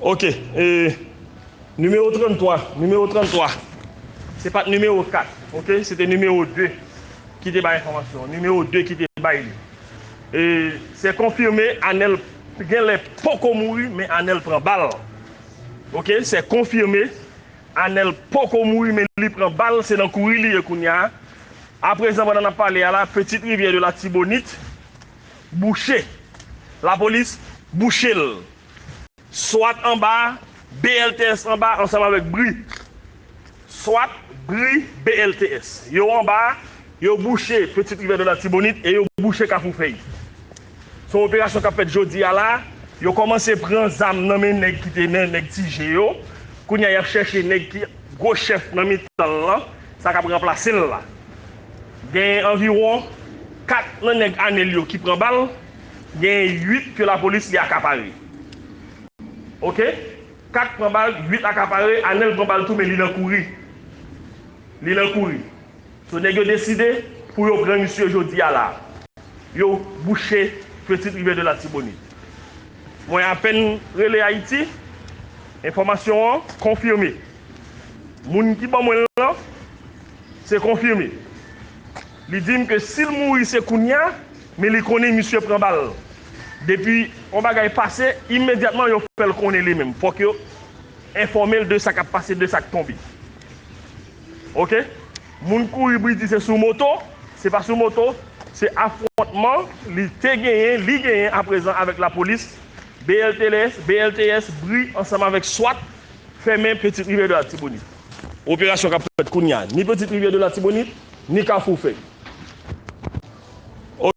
Ok e Numero 33 Numero 33 Se pat numero 4 ok se te numero 2 Ki te bay enfòmasyon Numero 2 ki te bay li E se konfime Anèl genlè poko mouri men Anèl pran bal Ok se konfime Anèl poko mouri men li pran bal se nan kouri li ye kounya Aprezan pandan nap pale a la Petite rivière de l'Artibonite bouche lapolis bouche l swat anba BLTS anba ansanm avèk bri swat bri BLTS yo anba yo bouche Petite Rivière de l'Artibonite e yo bouche Kafou Fèy son operasyon kap fèt jodi a la yo kòmanse pran zam nan men nèg ki te nen nèg ti je yo kounya yap chèche nèg ki gwo chèf nan mitan l lan. Sa k ap ranplase l la. Genyen anviwon 4 nan nèg ame l yo ki pran bal, genyen 8 ke lapolis li akapare. Ok. 4 pran bal, 8 akapare, Anel pran bal tou men li nan kouri. Li nan kouri. So nèg yo deside pou yo pran misye jodi a la. Yo bouche Petite Rivière de Latibonit. Mwen apèn rele Ayiti, enfòmasyon an konfime. Moun ki ban mwen l lan se konfime. Li di m ke si l mouri se kounya, men li konnen misye pran bal. Depi yon bagay pase, imedyatman yo fè l konnen li menm. Fòk yo enfòme l de sa k ap pase, de sa k tonbe. Ok. Moun kouri pou l di se sou moto, se pa sou moto, se afwontman li te genyen, li genyen apresan avèk lapolis, BLTS, BLTS, bri ansanm avèk swat, Fèmen Petite Rivière de l'Artibonite. Operasyon k ap fèt kounya ni Petite Rivière de l'Artibonite ni Kafou Fèy.